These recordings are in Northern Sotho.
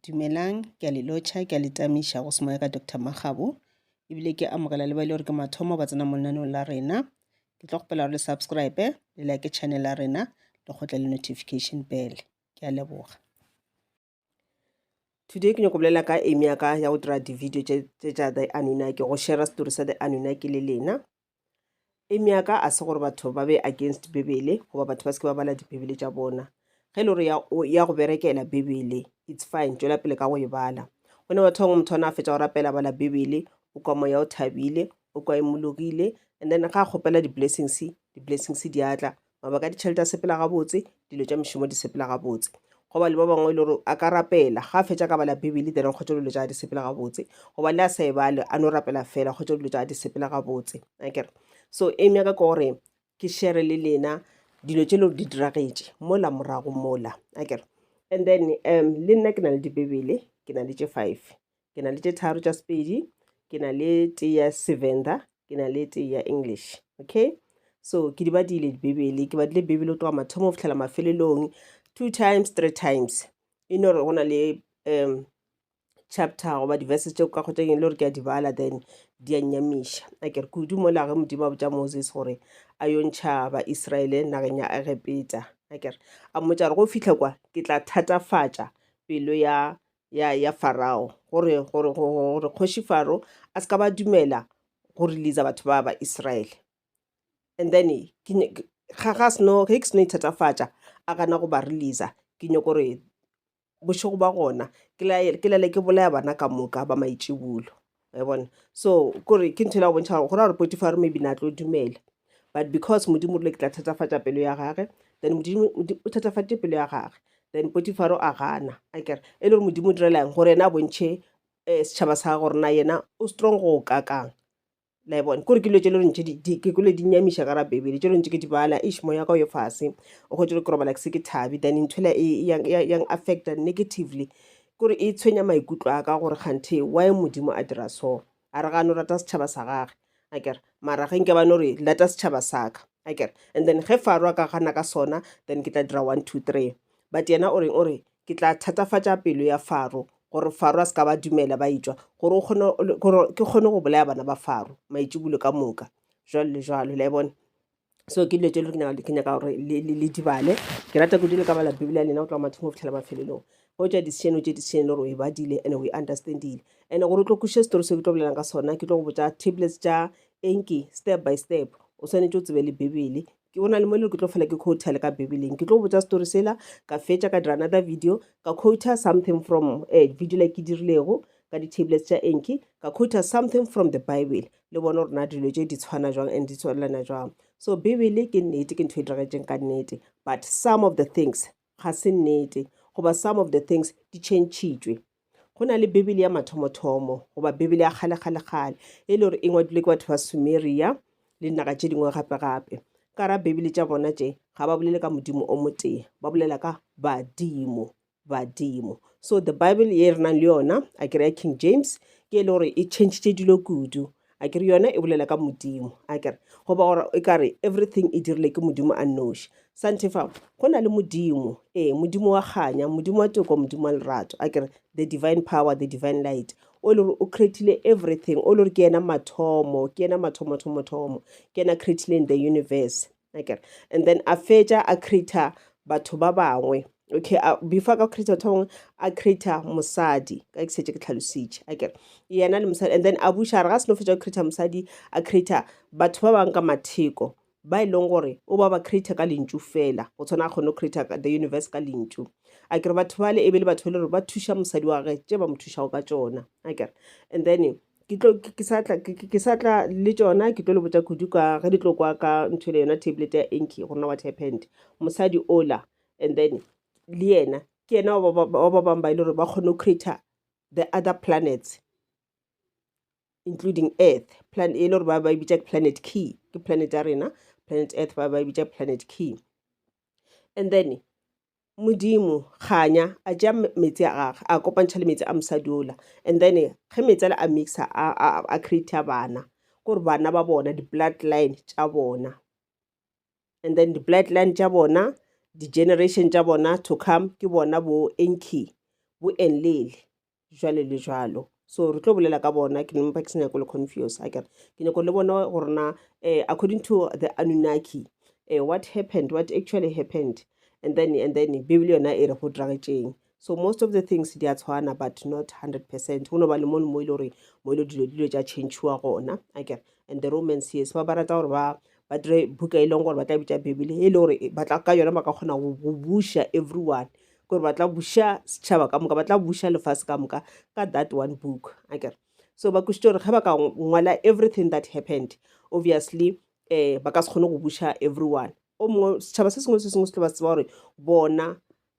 Dumelang, ke a le lotšha, ke a le tamiša go semoya ka Doctor Makgabo, ebile ke amogela le ba e le gore ke mathomo ba tsena mo lenaneong la rena. Ke tlo kgopela gore le subscribe, le like channel ya rena, le kgotle le notification bell. Ke a leboga. Today ke nyako bolela ka aim ya ka ya go dira di-video tse tša The Anunnaki, go share story sa The Anunnaki le lena. Aim ya ka a se gore batho ba be against Bibele goba batho ba se ke ba bala dibibele tša bona. Ge e le gore ya, o- ya go berekela Bibele, it's fine, tšwela pele ka go e bala. Go ne batho bangwe motho ona a fetša go rapela a bala Bibele, o kwa moya o thabile, o kwa imologile, and then ga a kgopela di-blessings, di-blessings di a tla, Mabaka a ditšhelete a sepela gabotse, dilo tša mešomo di sepela gabotse. Go ba le ba bangwe e le gore a ka rapela, ga a fetša ka bala Bibele then kgotša dilo tša di sepela gabotse. Go ba le a sa e bale, a no rapela fela kgotša dilo tša di sepela gabotse. Akere? So aim ya ka ke gore ke shere le lena dilo tše le gore di diragetše mola morago mola. Akere? And then um le nna ke na le dibebele, ke na le tše five. ke na le tše tharo tša sepedi ke na le tee ya sevenda ke na le tee ya english okay so ke di badile dibebele ke badile bebele o tloga mathomo go fitlhela mafelelong two times three times e no gore go na le um chapter goba di-verses tšeo ka kgotsa eng le gore ke a di bala then di a nyamiša a kere kudu mo lage modimo a botša moses gore a yo ntšha baisraele nageng ya egepeta a kere a mmotsa gore go fitlha kwa ke tla thatafatša pelo ya ya ya farao gore gore gore kgoši faro a se ka ba dumela go releasa batho ba ba israele and then ke ne- ke- ga ga seno ge ke seno ithatafatša a gana go ba releasa ke nyoko gore bošego ba gona ke laele- ke lele ke bolaya bana ka moka ba maitšibulo wa bona so kore ke ntho e la go bontšha gore go ra gore potifaro maybe na tlo dumela but because modimo rile ke tla thatafatša pelo ya gage then modimo Modi- o thatafatše pelo ya gage then potifaro a gana a kere e le gore modimo o direla'ng gore yena a bontšhe um setšhaba sa gage gore na yena o strong go kakang la e bona kore ke dilo tše le rentše ke kole di nyamiša ka ra bebele tše rentše ke di bala ish moya ka o yo fase o kgwetše gore ke robala ke se ke thabi then nthwela e e yang- yang yang affecta negatively Kore e tshwenya maikutlo a ka gore kganthe why Modimo a dira so. A re ga a no rata setšhaba sa gage. A kere, mara ge nke ba no re lata setšhaba sa ka. A kere, and then ge Faro a ka gana ka sona, then ke tla dira one, two, three. But yena o reng? O re, ke tla thatafatša pelo ya Faro, gore Faro a se ka ba dumela ba etšwa, gore o kgone, gore ke kgone go bolaya bana ba Faro maitšibulo ka moka, jwalo le jwalo. Le a e bona? so ke dilo tse le ke ke nyaka gore le dibale ke rata kudu le ka bala bibele ya lena go tloga mathomo go fitlhela mafelelong go tša decision o tše decision le gore o e badile and o e understandile and gore o tlo kweše story se ke tlo bolelang ka sona ke tlo go botsa tablets tša enki step by step o swanetše o tsebe le bibele ke o na le mo le ke tlo fela ke quotel ka bibeleng ke tlo go botsa story sela ka fetša ka dira another video ka quota something from uh, video le ke dirilego ka di-tablets tša enki ka quota something from the bible le bone gore na dilo tše di tshwana jwang and di tswalelana jwang so bibele ke nnete ke ntho e diregetseng ka nnete but some of the things ga se nnete goba some of the things di chentšhitšwe go na le bibele ya mathomothomo goba bibele ya kgalekgalekgale e le gore e ngwadilwe ke batho ba sumeria le dinaga tše dingwe gape gape ka ra bibele tša bona tše ga ba bolele ka modimo o motee ba bolela ka badimo badimo so the bible ye re nang le yona a kere ya king james ke e le gore e changitše dilo kudu a kere yona e bolela ka modimo a kere goba gore e kare everything e dirile ke modimo a noši santefa go na le modimo ee modimo wa kganya modimo wa toko modimo wa lerato a kere the divine power the divine light o le gore o creatile everything o le gore ke yena mathomo ke yena mathomothomothomo ke yena creatileng the universe akere and then a fetša a creator batho ba bangwe okay a before ka creator batho bangwe a creator mosadi ka ke setse ke tlhalositše akere yena le mosadi and then a buša re ga se no fetša go creator mosadi a creator batho ba bangwe ka matheko ba e leng gore o ba ba creator ka lentšu fela go tshwana a kgone go creator the universe ka lentšu a kere batho bale e be le batho ba le gore ba thuša mosadi wa gage tše ba mo thušago ka tsona a kere and then ke tlo ke sa tla ke sa tla le tšona ke tlo le botša kudu ka ge di tlo kwa ka ntho le yona tablet ya enki go rona what happened mosadi ola and then le yena ke yena wa ba bangwe ba e le gore ba kgone go creator the other planets including earth plan e le gore ba ba e bitša ke planet key ke planet ya rena planet earth ba ba e bitša planet key and then Modimo kganya a tšea meetse a gage a kopantšha le meetse a mosadi ola and then ge meetse ale a mixa a createa bana kore bana ba bona di-blood line tša bona and then di-blood line tša bona di-generation tša bona to come ke bona bo enki bo enlele jwale le jwalo so re tlo bolela ka bona ke nempa ke se nyako le confuse a kere ke nyako le bona gore na um eh, according to the anunaki um eh, what happened what actually happened and then and then bibele yona e re go diragetšeng so most of the things di a tshwana but not 100 percent go no ba le mone mo e le gore mo e le dilo dilo tša changewa gona a kere and the romans yes ba ba rata gore ba ba dire buka e leng gore ba tla bitša bibele e le gore ba tla ka yona ba ka kgona go buša everyone ke gore ba tla buša setšhaba ka moka ba tla buša lefase ka moka ka that one book akere so ba kwešitše gore ge ba ka ngwala everything that happened obviously um ba ka se kgone go buša everyone o mongwe setšhaba se sengwe se sengwe se tlo ba se tseba gore bona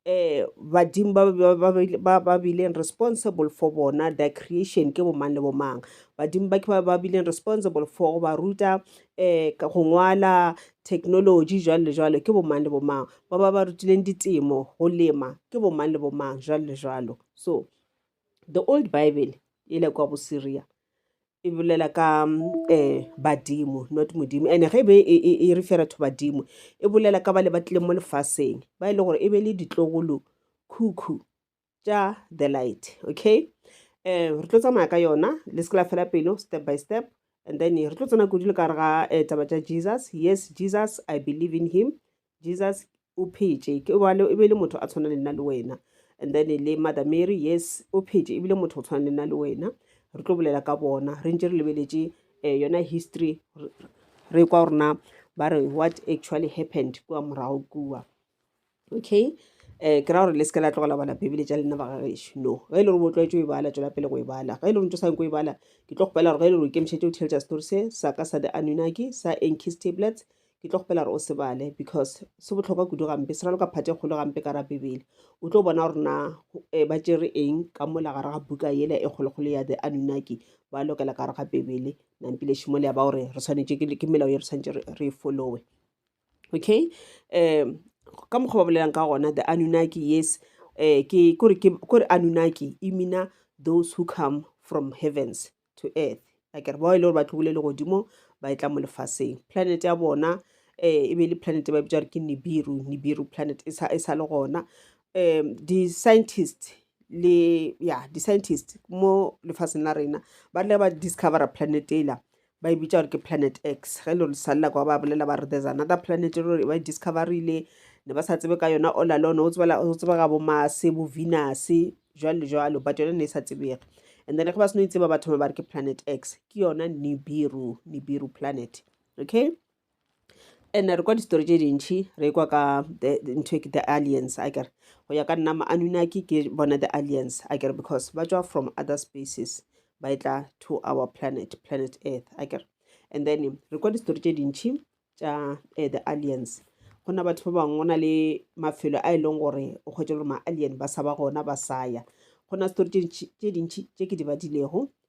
um badimo ba bileng responsible for bona the creation ke bomang le bomang badimo ba ke ba bileng responsible for go ba ruta um go ngwala technology jwalo le jwalo ke bomang le bomang ba ba ba rutileng ditemo go lema ke bomang le bomang jwalo le jwalo so the old bible e le kwa bosyria e bolela ka um badimo not modimo and ge e be e, e, e refera to badimo e bolela ka ba le ba tlileng mo lefaseng ba e le gore e be le ditlogolo khukhu tša the light okay um re tlo tsamaya ka yona le se ke la fela pelo step by step and then re tlo tsena kudu le ka re ga eh, taba tša jesus yes jesus i believe in him jesus o phetše ke bale e be le motho a tshwana le nna le wena and then le mother mary yes o phetše ebile motho o tshwana le nna le wena re tlo bolela ka bona re ntse re lebeletše um yona history re kwa gorena ba re what actually happened kua morago kua okay um ke ra gore le se ke la tlogela bala bebele tša lena ba gagešo no ge e le gore bo tlwaetše o e bala tšwela pele go e bala ge e le gore ntse o sa nyako o e bala ke tlo kgopela gore ge e le gore o ikemišetše o theletša story se sa ka sa the anunaki sa enkis tablets ke tlo kgopela gore o se bale because se botlhokwa kudu gampe se raloka phate e kgolo gampe ka ra bebele o tlo bona gore na eh, ba tšere eng ka mola gare ga buka yela e kgolokgolo ya the anunaki ba lokela ka gare ga bebele nampile šimo le ya ba gore re swanetše ke ke melao ye re swanetše re- re e followe okay um ka mokgwa ba bolelang ka gona the anunnaki yes um ke kore ke kore anunnaki e mina those who come from heavens to earth a kere bao e le gore ba tlogile le godimo ba e tla mo lefaseng planet ya bona um e be le planet ba bitsa gore ke nibiru nibiru planet e sa e sa le gona um di-scientist le ya di-scientist mo lefaseng la rena ba tla ba discovera planet ela ba e bitša gore ke planet x ge le risalela kwa ba bolela ba re there's another planet e ba e discoverile ne ba sa tsebe ka yona all alone o tsebega bo mase bo venus jwalo le jwalo but yone ne e sa tsebege and then ge ba seno itseba ba thoma ba re ke planet x ke yona nibiru nibiru planet okay And-e re kwa di-story tše dintšhi re e kwa ka ntho e ke the aliens akere. Go ya ka nna ma-anunnaki ke bona the aliens akere because ba tšwa from other spaces ba e tla to our planet, planet earth akere. And then re kwa di-story tše dintšhi tša eh, the aliens go na batho ba bangwe go na le mafelo a e leng gore o kgwetše gore ma-alien ba sa ba gona ba sa ya go na story tše dintši tše ke di badilego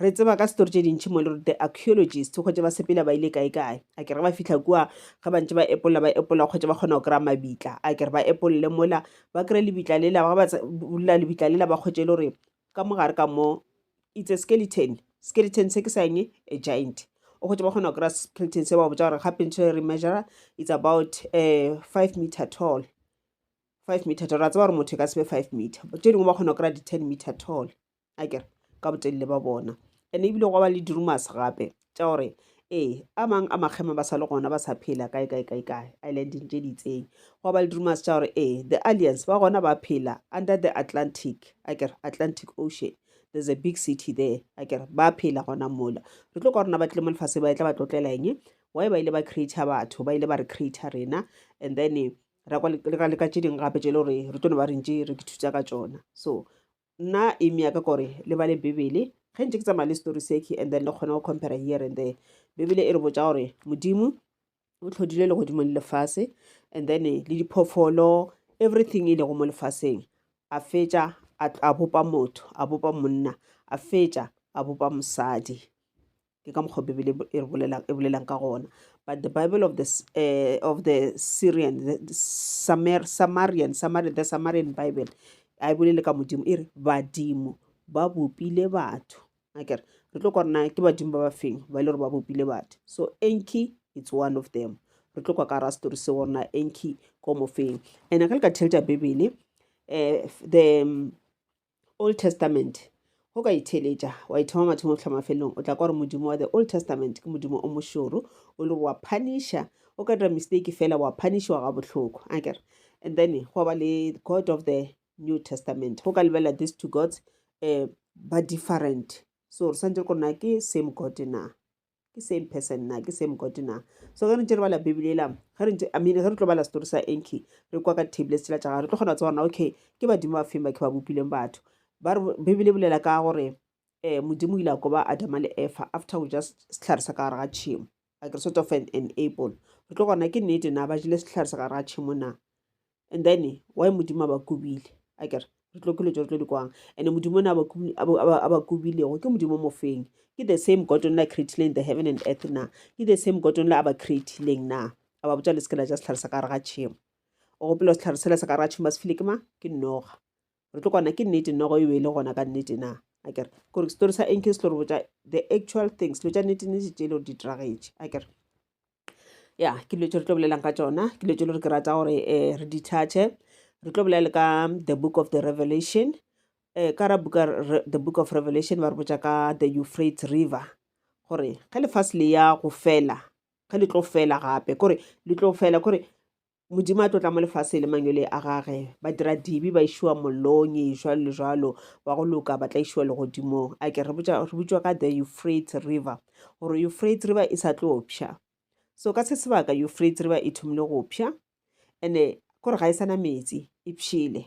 Re tseba ka story tše dintši mo le re the archaeologist kgotše ba sepela ba ile kae kae. A kere ba fihla kua ge ba ntše ba epolla ba epolla kgotše ba kgona go kry-a mabitla. A kere ba epolle mola ba kry-e lebitla lela ga ba bulela lebitla lela ba kgotše e le gore ka mo gare ka mo it's a skeleton. Skeleton se ke sa eng a giant. O kgotše ba kgona go kry-a skeleton se ba botsa gore gape ntho e re measure it's about um five meter tall. Five meter tall ra tseba gore motho e ka se be five meter tše dingwe ba kgona go kry-a di ten meter tall. a kere ka botelele ba bona ene ebile gwa ba le dirumase gape tša gore ee a mang a makgema ba sa le gona ba sa phela kae kae kae kae islandeng tše di itseng gwa ba le dirumase tša gore ee the alliance ba gona ba phela under the atlantic a kere atlantic ocean there's a big city there a kere ba phela gona mola re tlo ka rona ba tlile mo lefase ba e tla ba tlotlela eng why ba ile ba creator batho ba ile ba re creator rena and then ra kwa le ka tše dingwe gape tše e le gore re tlo ne ba rentše re ke thusa ka tsona so Nna aim yaka kore le bale bibele ge ntše ke tsamaya le story seki and then le kgone go compare here and there bibele e re botša gore modimo o tlhodile legodimo le lefase and then le diphofolo everything e lego mo lefaseng a fetša a bopa motho a bopa monna a fetša a bopa mosadi ke ka mokgwa bibele e re bolelang e bolelang ka gona but the bible of the S- eh, of the syrian the, the Samer, samarian Samari, the samarian bible a e bolele ka modimo e re badimo ba bopile batho akere re tlo kwana ke badimo ba ba feng ba e le gore ba bopile batho so enki it's one of them re tlo kwa ka ra story se gorena enki ko mofeng and ka leka thelta bibele eh, f- the um, Old Testament. Go ka itheeletša, wa ithoma mathomong go hla mafelelong, o tla kwa gore Modimo wa the Old Testament ke Modimo o mošoro, o le gore wa phanisha, o ka dira mistake fela wa phanishiwa ga bohloko. A kere? And then go ba le God of the New Testament. Go ka lebelela these two gods um ba different. So re swantse re kore na ke same God na. ke same person na ke same god na so ge re ntse re bala bibele ela ge re ntse i mean ge re tlo bala story sa enki re kwa ka table setsela tša gage re tlo kgona go tseba gorena okay ke badimo ba feng ba ke ba bopileng batho ba re bibele e bolela ka gore um modimo o ile a koba adama le efa after go ja setlhare sa ka gare ga tšhimo like re sort of an enable re tlo gona ke nnete na ba jele setlhare sa gare ga tšhimo na and then why modimo a ba kobile a kere re tlo ke letso re tlo di kwang and modimo ne a ba kobilego ke modimo mofeng ke the same god only a creatileng the heaven and earth na ke the same god only a ba creatileng na a ba botsa le sekela ja setlhare sa ka re ga tšhemo o gopela setlhare sela sa ka re ga tšhemo ba se file ke ma ke noga re tlo kwana ke nnete nogo e be e le gona ka nnete na a kere kore setori sa enke se tlo re botsa the actual things lo tša nnete nnete tše e le gore di diragetše a kere ya ke dilo tse re tlo bolelelang ka tsona ke dilo tse le gore ke rata gore um re di thathe re tlo bolele ka the book of the revelation um ka ra buka the book of revelation ba re botsa ka the euphrates river gore ge lefase le ya go fela ge le tlo fela gape kore le tlo fela kore Modimo a tlotla mo lefase le manyole a gage ba dira dibi ba išiwa mollong e jalo le jalo ba go loka ba tla išiwa legodimong a ke re botšwa ka the euphrate river gore euphrate river e sa tlo pšha so ka se sebaka euphrate river e thomile go pšha ene kore ga e sana metsi e pšhile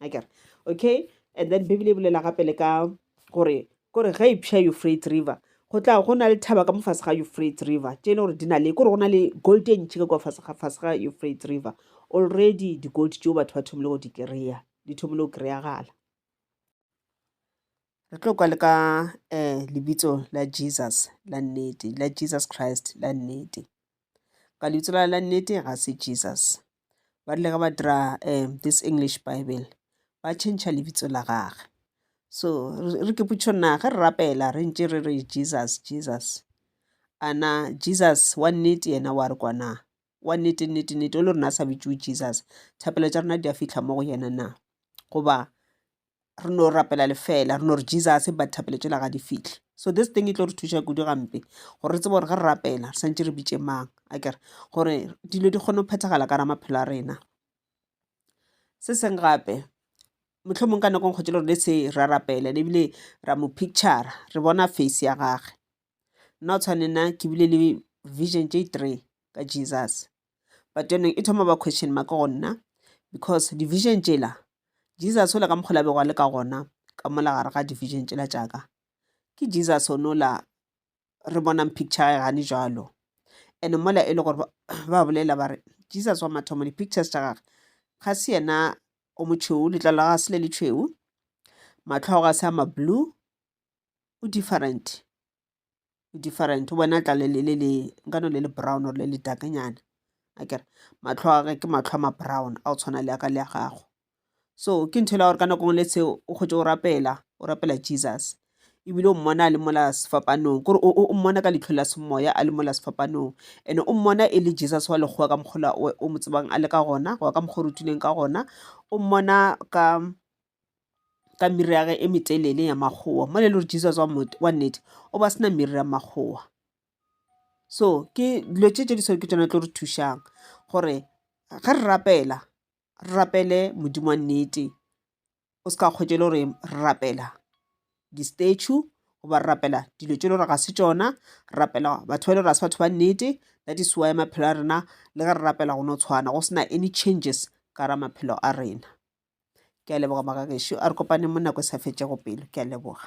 akere okay and then bibele e bolela gape le ka gore kore ge ipša eufrate river go tla go na le thaba ka mofase ga eufrate river tše e le gore di na le kore go na le gold e ntšhi ka kwa fase ga eufrate river already di-gold tšeo batho ba thomile go di kry-a di thomile go kry-agala re tlo kwa le ka um lebitso la jesus la nnete la jesus christ la nnete ka lebitso la la nnete ga se jesus ba rile ge ba dira um this English Bible ba tšhentšha lebitso la gage. So re ke potšišo na ge re rapela re ntše re re Jesus, Jesus, a na Jesus wa nnete yena wa re kwa na? Wa nnete nnete nnete o le rona a sa bitšiwe Jesus, thapelo tša rena di a fihla mo go yena na? Goba re no rapela lefela re no re jesus ba thapelo tšela ga di fihle so this thing e tlo re thuša kudu gampe gore re tsebe gore ge re rapela re swantse re bitše mang a kere gore dilo di kgone go phethagala ka ra maphelo a rena se seng gape motlho mongwe ka nako nkgotse le rone se ra rapela le ebile ra mo picture re bona face ya gage nna o tshwane nna ke bile le vision j three ka jesus but yone e thoma ba question mark go nna because division tšela jesus ola ka mokgola bego a le ka gona ka mola gare ga division tšela tšaka ke jesus o nola re bonang picture ya gane jalo and mola e le gore ba bolela ba re jesus wa mathomo di-pictures tša gage ga se yena o motšheu letlalo ga se le le tšhweu matlhogo ga se a mablue o different e different wena tla le le le nkano le le brown or le le dark nyana akere. Matlho a ge ke matlho a ma brown a go tshwana le a ka le a gago, so ke ntho e le ya gore ka nako ngwe le seo o kgotse o rapela o rapela Jesus ebile o mmona a le mola sefapanong kore o mmona ka leitlho la semoya a le mola sefapanong. And-e o mmona e le Jesus wa lekgowa ka mokgwa ola o mo tsebang a le ka gona goba ka mokgwa o rutilweng ka gona, o mmona ka ka miri ya ge e metelele ya makgowa mo le le gore jesus wa nnete o ba sena miri ya makgowa so ke dilo tše tše di seo ke tsona tlo re thušang gore ge re rapela re rapele modimo wa nnete o se ka kgwetše le gore re rapela di-statue goba re rapela dilo tše le gore ga se tšona re rapela batho ba le gore ga se batho ba nnete that is why maphelo a rena le ge re rapela go no tshwana go sena any changes ka ra maphelo a rena ke a leboga maka gešo a re kopane mo nako e sa fetšego pelo ke a leboga